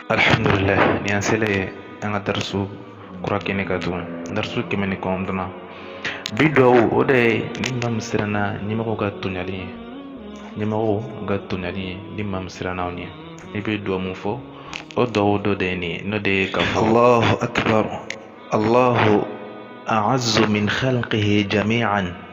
alhamdulillah ni an selen ye an ka darisu kura kɛnɛ kan tugun darisu kɛmɛ ni kɔnɔntɔnnan bi duwawu o de ye ni maa min siranna ɲɛmɔgɔw ka tɔɲali ye ɲɛmɔgɔw ka tɔɲali ye ni maa min siranna o ɲɛ i bɛ duwawu min fɔ o duwawu dɔ de ye nin ye n'o de ye k'a fɔ alahu akibaru alahu a'azzu min khalqihi jami'an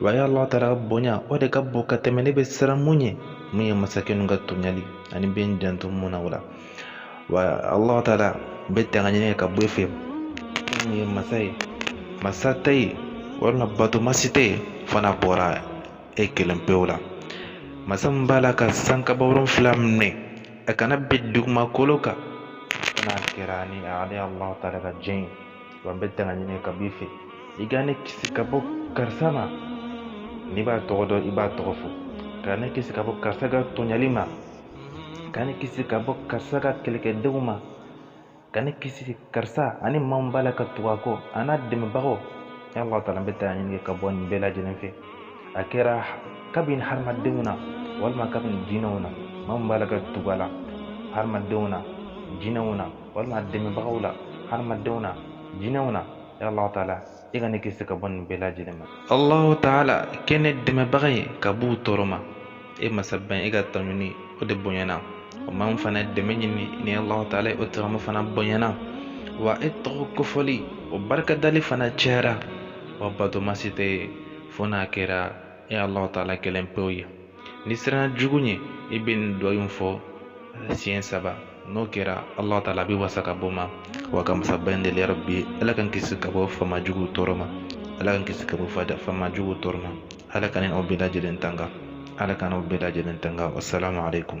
wa ya ala taala bonya o de ka bon ka tɛmɛ ne bɛ siran min ɲɛ min ye masakɛ ninnu ka tɔɲali ani n bɛ n janto min na o la wa ala taala n bɛ tanga ɲini ka bɔ e fɛ fɛn min ye masa ye masa tɛ yen walima batomasi tɛ yen fo n'a bɔra e kelen pewu la masa min b'a la ka sankaba wolonfila minɛ a kana bin dugumakolo kan fo n'a kɛra ni ale ala taala ka jɛn ye wa n bɛ tanga ɲini ka b'i fɛ i ka ne kisi ka bɔ karisa ma n'i b'a tɔgɔ dɔn i b'a tɔgɔ fɔ ka ne kisi ka bɔ karisa ka tɔɲali ma ka ne kisi ka bɔ karisa ka kɛlɛkɛdenw ma ka ne kisi karisa ani maa min b'a la ka tugu a kɔ an'a dɛmɛbagaw ya allah taala n bɛ tanga ɲini ka bɔ nin bɛɛ lajɛlen fɛ a kɛra kabini hadamadenw na walima kabini jinɛw na maa min b'a la ka tugu a la hadamadenw na jinɛw na walima dɛmɛbagaw la hadamadenw na jinɛw na ya allahu taala i ka ne kisi ka bɔ nin bɛɛ lajɛlen ma allahu taala kɛ ne dɛmɛbaga ye ka b'u tɔɔrɔ ma e masaba in i ka tanuni o de bonyana o ma n fana dɛmɛ ɲini ni allahu taala ye o tagama fana bonyana wa e tɔgɔ kofɔli o barikadali fana cayara wa batomasi tɛ yen fo n'a kɛra e alahu taala kelen pewu ye n'i siranna jugu ɲɛ i bɛ nin duwawu in fɔ siɲɛ saba n'o kɛra alahu taala b'i wasa ka b'o ma wa an ka masaba in deli yarabi ala k'an kisi ka bɔ faama juguw tɔɔrɔ ma ala k'an kisi ka bɔ faama juguw tɔɔrɔ ma ala k'an ni aw bɛɛ lajɛlen tanga ala k'an n'aw bɛɛ lajɛlen tanga wasalaamu aleykum